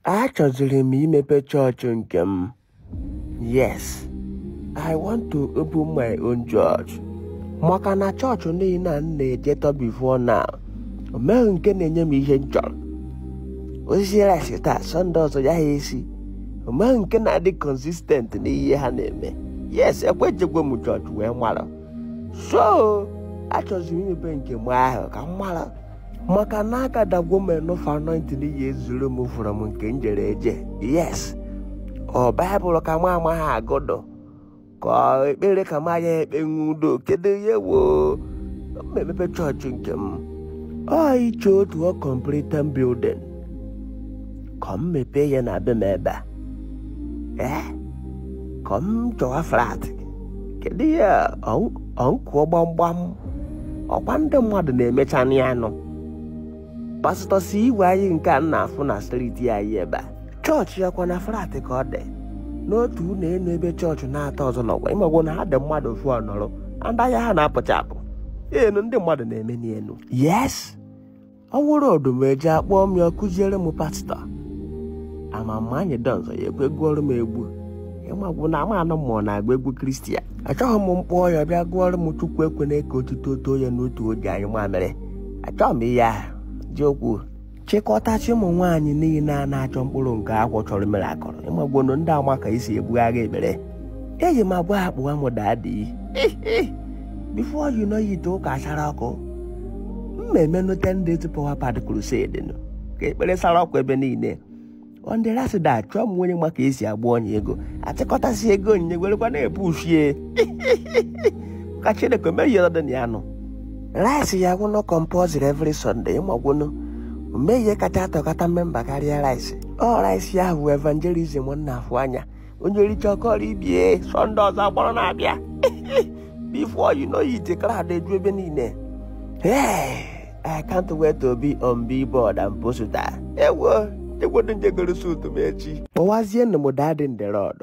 achọziri m imepe chọọchị nke m yes i want to open my own church maka na chọọchị niile a m na-ejetọ before now o nweghị nke na-enye m ihe m chọrọ o sie rice taa sọnde ọzọ ọ yaha esi o nweghị nke na-adị consistent n'ihe ha na-eme yes ekwechekwa m chọọchị wee mara so achọziri m imepe nke m ahụ ka m mara maka na agathergwo m enough anointing ya-ezuru m from nke m jere eje yes ọ baịbụl ka m amaghị agụ dọ ka ekpere ka m aya ekpenwu dọ kedu ihe woo m emepe chọọchị nke m ọ ịchọ otu uncompleted building ka m mepee ya na be m ebe a ee ka m chọwa flat kedu ihe ọnkụọ gbamgbam ọkwa ndị mmadụ na-emecha ya n'enu pasịtọ si igwe anyị nke a na-afụ na striti anyị ebe a chọọchị ya ọ kwa na flat ka ọ dị n'otu ụlọ elu ebe chọọchị atọ ọzọ nọkwa ị magwo na ha dị mmadụ ofu ọ nọrọ under ya ha na-apụcha apụ enu ndị mmadụ na-eme n'elu yes ọ wụrụ odumeje akpọ m ya kụziere m pasta ama m ma anyidons ọ ya-ekwe gụọrọ m egwu ị magwo na ama anụ mmụọ na-agba egwu christian achọghị m m kpọọ ya bịa gụọrọ m chukwu ekwena ka otuto too ya n'otu oge anyị mamịrị achọghị m ihe ahụ ji okwu chịkọtazie ụmụ nwaanyị niile a na-achọ mkpụrụ nke afọ chọrọ miracle ị magwonụ ndị a ma ka esi ebugharị ekpere eji m agwa akpọwa m daddy before you know it ụka asara ọkụ m mee nụ ten days power packed crusade nụ ka ekpere sara ọkụ ebe niile on the last day chọọ nụ onye ma ka esi agba ọnya ego achịkọtasị ego onyinye werekwa na-ebu ushie ka chineke merie ọdị na ya nụ rice ya-awụnụ compulsory every sunday ị magwonụ o nweghị ihe kacha adọkọta memba karịa rice ọ rice ya bụ evangelism a na-afụ anya onye richa kọrọ ibe ya sọnde ọzọ a kpọrọ na-abịa before you know it crowd eju ebe niile Hey, I can't wait to be on billboard and poster. Ewo, egwodo m je goro suit m echi. Kpọwazie nụ m daddy in the Lord.